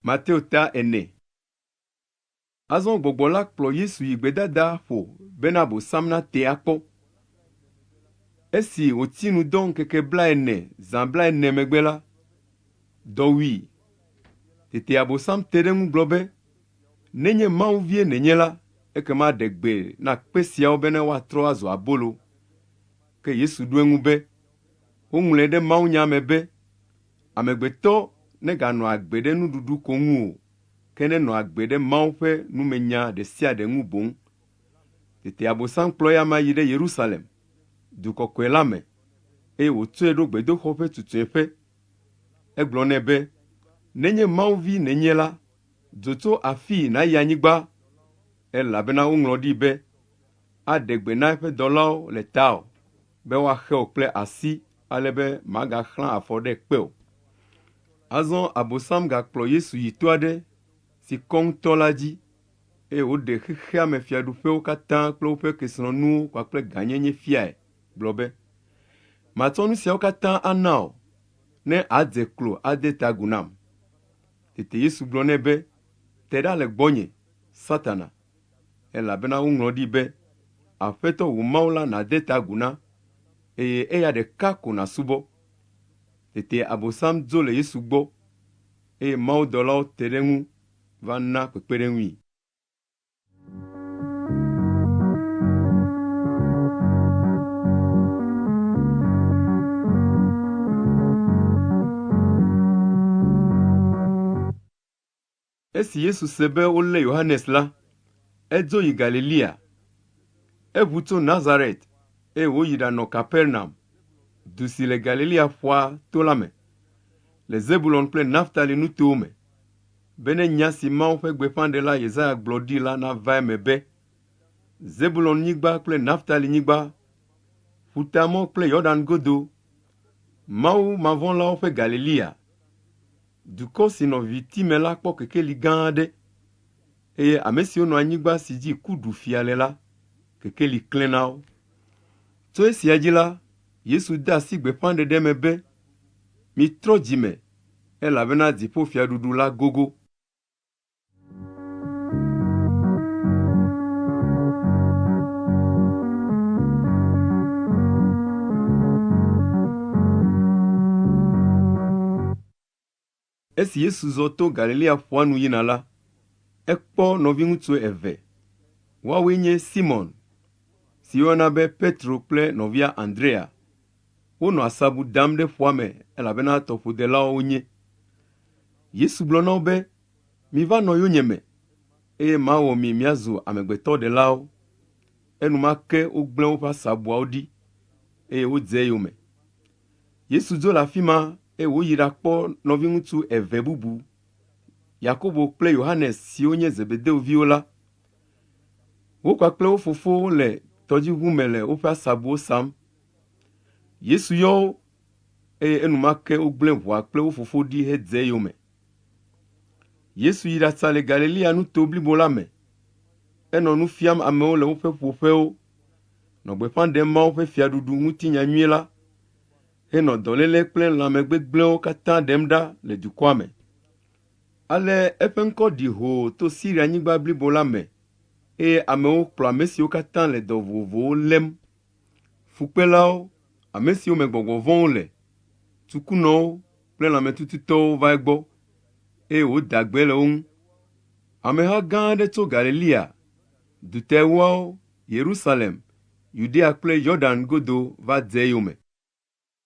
Mateo ta ene. Azɔ gbɔgbɔ la kplɔ Yesu yi gbedada ƒo bena Abosam nate akpɔ. Esi wòti nu dɔ ŋkeke blaene zã blaene megbe la, dɔ wui. Tete Abosam te ɖe eŋu gblɔ be, Nenye Mawu vie nènye la, ekema ɖe gbe na kpe siawo bena woatrɔ azu abolo. Ke Yesu ɖo eŋu be, Woŋlɔe ɖe mawunya me be, Amegbetɔ neganɔ agbe ɖe nuɖuɖu ko ŋu o, ke nenɔ agbe ɖe Mawu ƒe numenya ɖe sia ɖe ŋu boŋ. Tete Abosam kplɔ eya amea yi ɖe Yerusalem, du kɔkɔe la me, eye wòtsɔe ɖo gbedoxɔ ƒe tutue ƒe. Egblɔ nɛ be, Nenye Mawu Vi nènye la, dzo tso afii nàyi anyigba, elabena woŋlɔ ɖi be, Aɖe gbe na eƒe dɔlawo le tawò, be woaxe wò kple asi ale be magaxlã afɔ ɖe kpe o. Azɔ Abosam gakplɔ Yesu yi to aɖe si kɔ ŋutɔ la dzi, eye wòɖe xexeame fiaɖuƒewo katã kple woƒe kesinɔnuwo kpakple gãnyenye fiae, gblɔ be, Matsɔ nu siawo katã ana wò, ne àdze klo ade ta agu nam. Tete Yesu gblɔ nɛ be, Te ɖa le gbɔnye, Satana! elabena woŋlɔ ɖi be, Aƒetɔ wò Mawu la nàde ta agu na, eye eya ɖeka ko nàsubɔ. Tete Abosam dzo le Yesu gbɔ, eye mawudɔlawo te ɖe eŋu va na kpekpeɖeŋui. Esi Yesu se be wolé Yohanes la, edzo yi Galilea. Eʋu tso Nazaret, eye wòyi ɖanɔ Kapernaum, du si le Galilea ƒua to la me, le Zebulon kple Naftali nutowo me, bene nya si Mawu ƒe gbeƒãɖela Yesaya gblɔ ɖi la nava eme be, Zebulon-nyigba kple Naftali-nyigba, Ƒutamɔ kple Yordan godo, Mawu mavɔ̃lawo ƒe Galilea. Dukɔ si nɔ viviti me la kpɔ kekeli gã aɖe, eye ame siwo nɔ anyigba si dzi ku ɖu fia le la, kekeli klẽ na wo. Tso esia dzi la, Yesu de asi gbeƒãɖeɖe me be, Mitrɔ dzi me, elabena dziƒofiaɖuɖu la gogo. Esi Yesu zɔ to Galilea ƒua nu yina la, ekpɔ nɔviŋutsu eve. Woawoe nye Simɔn, si woyɔna be Petro kple nɔvia Andrea. Wonɔ asabu dam ɖe ƒua me elabena tɔƒodelawo wonye. Yesu gblɔ na wo be, Miva nɔ yonyeme, eye mawɔ mi miazu amegbetɔɖelawo. Enumake wogblẽ woƒe asabuawo ɖi, eye wodze eyome. Yesu dzo le afi ma, eye wòyi ɖakpɔ nɔviŋutsu eve bubu, Yakobo kple Yohanes siwo nye Zebedeo viwo la. Wo kpakple wo fofo wole tɔdziʋu me le woƒe asabuwo sam. Yesu yɔ wo, eye enumake wogblẽ ʋua kple wo fofo ɖi hedze eyome. Yesu yi ɖasa le Galilea nuto blibo la me. Enɔ nu fiam amewo le woƒe ƒoƒewo, nɔ gbeƒã ɖem Mawu ƒe Fiaɖuɖu ŋuti nya nyui la, henɔ dɔléle kple lãme gbegblẽwo katã ɖem ɖa le dukɔa me. Ale eƒe ŋkɔ ɖi hoo to Sirianyigba blibo la me, eye amewo kplɔ ame siwo katã le dɔ vovovowo lém Fukpelawo, ame siwo me gbɔgbɔ vɔ̃wo le, tukunɔwo kple lãmetututɔwo va egbɔ, eye wòda gbe le wo ŋu. Ameha gã aɖe tso Galilea du te ewoawo, Yerusalem, Yudea kple Yordan godo va dze eyome.